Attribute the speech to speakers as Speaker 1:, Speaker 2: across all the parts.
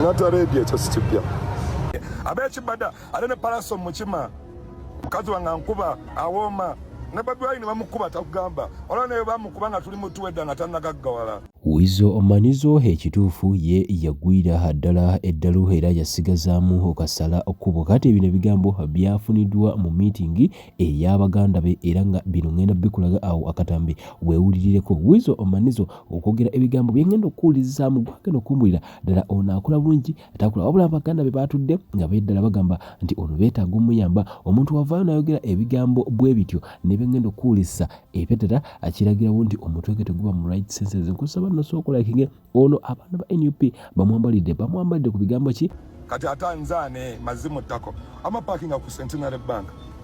Speaker 1: natarebye ekyo sikipya abekibada ate ne palaso mukima mukazi wange ankuba awooma ne babi wayini bamukuba takugamba olaba naye bamukuba nga tuli mutuwedda nga tanagaggawala wizo omanizo
Speaker 2: ekituufu ye yagwira ddala eddalu era yasigazaamu okasala okkubo kati ebino ebigambo byafuniddwa mu miitingi ey'abaganda be era nga bino ngenda bikulaga awo akatambi wewulirireko wizo omanizo okwogera ebigambo byengenda okuwulirizaamu gwagenda okumbulira ddala ono akola bulungi takula wabula abaganda be baatudde nga beddala bagamba nti ono beetaaga omuyamba omuntu wavaayo n'ayogera ebigambo bwe bityo ne bengenda okuwulisa ebyo ddala akiragirawo nti omutwe gwe teguba mu right senses nkusaba nosookolakige ono abaana ba nup bamwambalidde bamwambalidde ku bigambo ki kati ate anzaane
Speaker 1: mazi mu ttako amapakinga ku centenary bank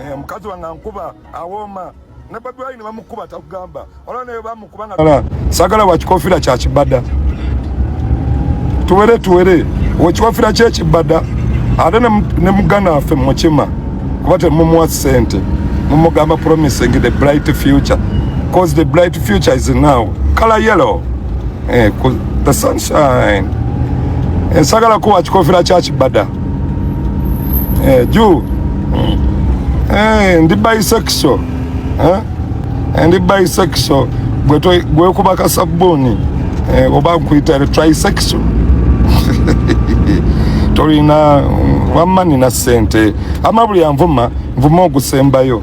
Speaker 1: Eh, mukazi wange ankuba awooma ne bobi wine bamukuba takugamba olaba naye bamukuba nga sagala wakikofira kyakibada tuwere tuwere wekikofira kyekibada ate ne muganda waffe mukima kuba temumuwa sente mumugamba promising the bright future cause the bright future is now color yellow eh, the sunshine ensagala eh, kuwa kikofira kyakibada eh, juu mm. eh, ndi bisexual eh? eh ndi bisexual gwekuba kasabbuuni eh, oba nkuyita trisexual tolina mm, wamma nina sente ama buli anvuma nvuma ogusembayo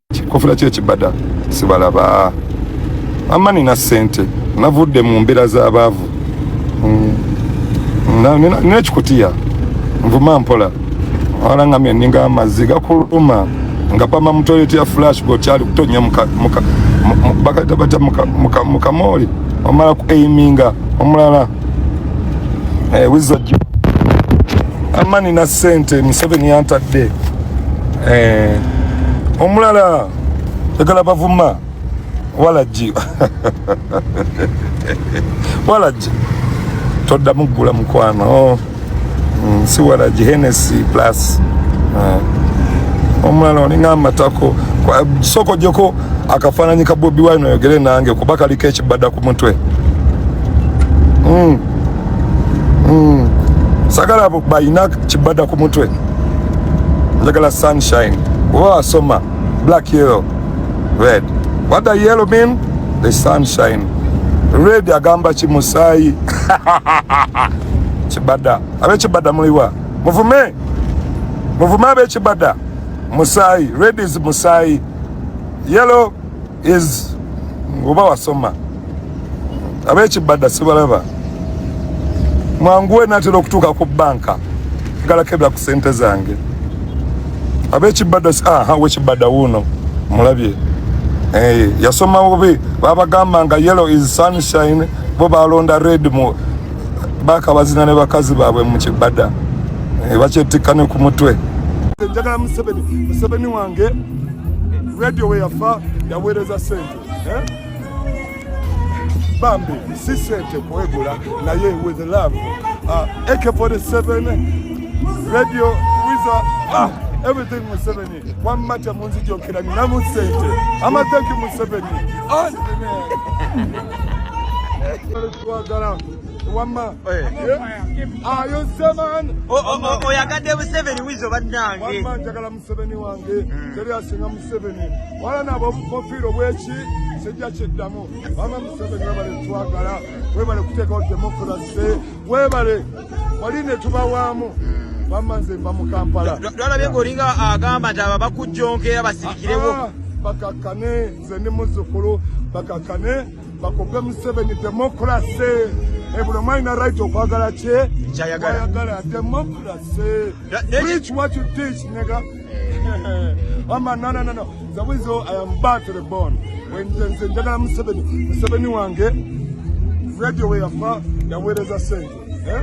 Speaker 1: kikofira kye kibada sibalaba amma nina sente navudde mu mbeera z'abaavu mm. nina ekikutiya nvuma mpola wala nga mye ninga amazzi gakuluma nga pama mu toilet ya flash go kyali kutonya muka muka bakata bata muka muka muka moli omala ku aiminga omulala eh, wizo juu ama nina sente Museveni yantadde eh, omulala egala bavuma walagi walagi toddamu ggula mukwano nsiwala mm, gihenesi plus uh, omulala olinga amatako soko joko akafananyi ka bobi wine oyogere nange kuba kaliko ekibada ku mutwe mm. mm. sagala abo balina kibada ku mutwe njagala sunshine oba asoma black yellow red what the yellow mean the sunshine red agamba ki musaayi kibada abekibada muliwa muvume muvume abekibada musayi red is musayi yellow is oba wasoma abekibada sibalaba mwanguwe natera okutuuka ku banka ngalakebera ku sente zange abekibada aha wekibada wuuno mulabye hey, eh, yasoma bubi babagamba nga yellow is sunshine bo balonda red mu bakabazina ne bakazi baabwe mu kibada eh, bakyettikka ne ku mutwe njagala museveni museveni wange radio we yafa yaweereza sente eh? bambi si sente kwegula naye with love uh, ak47 radio wiza ah, everything museveni wamma temunzijokera ninamu sente amathanki museveni twagala wamma ayoseman oyagadde
Speaker 3: museveni wizo bannange wamma njagala museveni
Speaker 1: wange hmm. teri asinga museveni wala nabo obukofiiro bweki sijja kiddamu wamma museveni webale twagala webale kuteekawo demokrasi webale wali netubawaamu wamma nze mba mu kampala twalabye ngaolinga
Speaker 3: agamba nti aba bakujjonkera basirikirewo ah, bakakkane
Speaker 1: nze ndi muzzukulu bakakkane bakope museveni demokrase eh, buli omwali na right okwagala kye kyayagala
Speaker 3: demokrase
Speaker 1: preach what you teach nega wama no no no no zawizo i am back to the bone when the nze njagala museveni museveni wange radio we yafa yaweereza sente eh?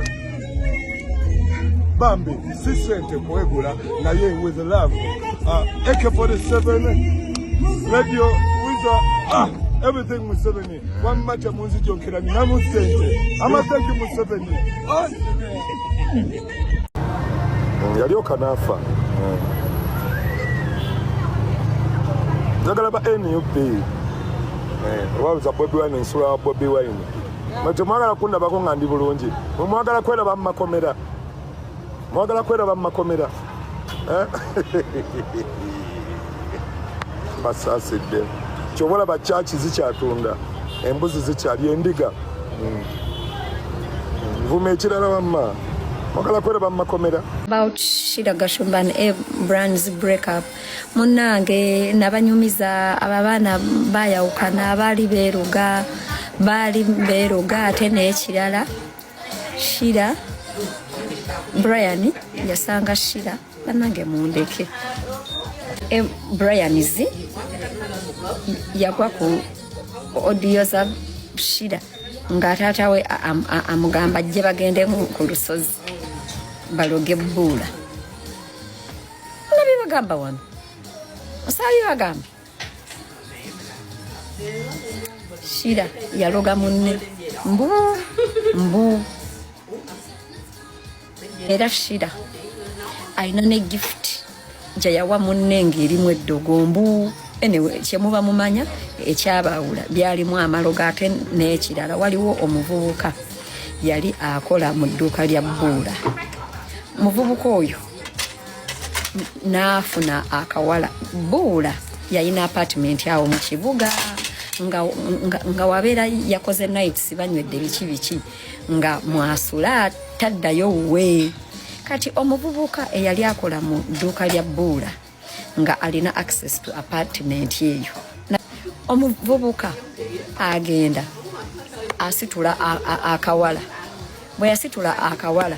Speaker 1: bambi si sente kwegula naye with love uh, ak47 radio wizo ah everything museveni wamma temunzijonkera ninamu sente amathanki museveni ah. mm, yalyoka naafa mm. njagala ba nup obabuza eh, bobi wine ensula wa bobi wine temwagala kundabako nga ndi bulungi mwagala kweraba mumakomera mwagala kweraba mumakomera eh? basaasidde kyoba olaba kyaki zikyatunda embuzi zikyali endiga hmm. nvuma ekirala wamma mwagala kweraba mu makomera about shida
Speaker 4: gashumba and a brands break up munange nabanyumiza abo abaana bayawukana baali beeruga baali beeruga ate n'ekirala shira brian yasanga shira banange mundeke e, brian z yagwa ku odiyo za shira nga taata we amugamba ajje bagende ku lusozi baloge bbuula nabi bagamba wano osaabi bagamba shira yaloga munne mbu mbu era shira alina ne gift gyeyawa munne ng'erimu eddogo mbu anyway kyemuba mumanya ekyabaawula byalimu amalogo ate n'ekirala waliwo omuvubuka yali akola mu dduuka lya bbuula muvubuka oyo n'afuna akawala bbuula yalina apatimenti awo mu kibuga nga wabeera yakoze nights banywedde biki biki nga mwasula taddayo wuwe kati omuvubuka eyali akola mu dduuka lya bbuula nga alina access to apartment eyo omuvubuka agenda asitula akawala bwe yasitula akawala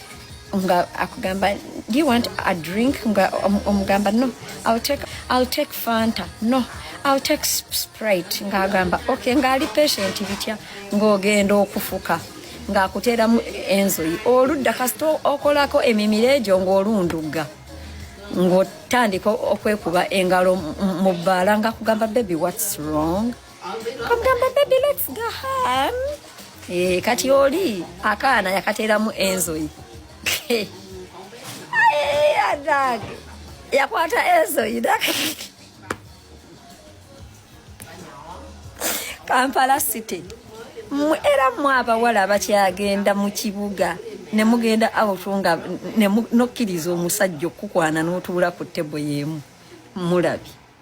Speaker 4: nga akugamba do you want a drink nga omugamba no i'll take, I'll take fanta no i'll take sprite nga agamba okay nga ali patient bitya ng'ogenda okufuka ng'akuteeramu enzoyi oludda kasita okolako emimiro egyo ng'olundugga ng'otandika okwekuba engalo mu bbaala nga kugamba baby what's wrong Eh, kati oli akaana yakateeramu enzoyi adange yakwata enzoyi kampala city era mwe abawala abakyagenda mu kibuga ne mugenda awutu nga nokkiriza omusajja okukwana n'otuula ku tebo y'emu mulabi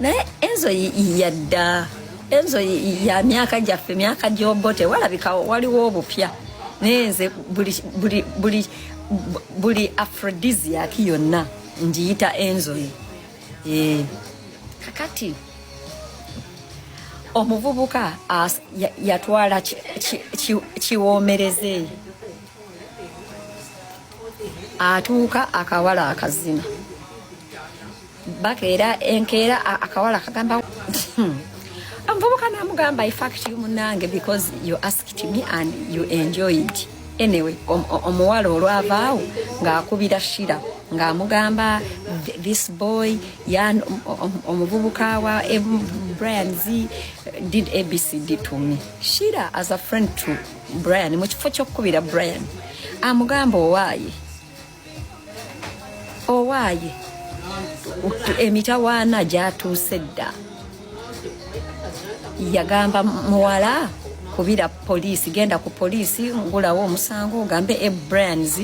Speaker 4: naye enzo yadda enzo ya myaka gyaffe myaka gyobote walabika waliwo obupya naye nze buli buli buli buli aphrodisiac yonna ngiyita enzoyi eh, kakati omuvubuka yatwala kiwoomereze atuuka akawala akazina bakeera enkeera akawala kagamba omuvubuka namugamba ifact you munange because you asked me and you enjoyed anyway omuwala olwavaawo ng'akubira shira ng'amugamba this boy yan omuvubuka wa brian z did abcd to me shira as a friend to brian mu kifo ky'okukubira brian amugamba owaaye owaaye emitawaana gyatuuse dda yagamba muwala kubira poliisi genda ku poliisi ngulawo omusango ogambe ebrands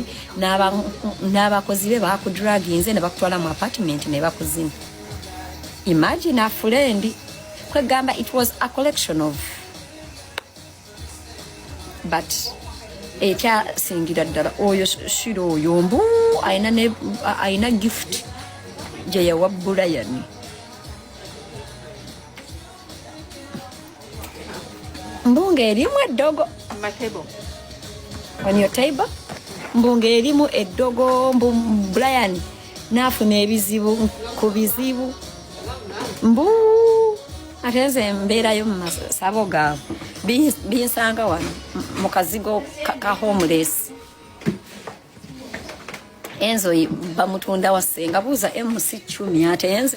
Speaker 4: n'abakozi be bakudraginze ne bakutwala mu apartment ne bakuzina imagine a friend kwegamba it was a collection of but ekyasingira ddala oyo shira oyo mbu alina gift gyeyawa bulayani mbunga erimu eddogo on your table mbunga erimu eddogo mbu bulayani naafuna ebizibu ku bizibu mbu ate nze mbeerayo mu masabo gaabwe binsanga wano mu kazigo ka homeless enzo bamutunda wasenga buuza mc cumi ate nze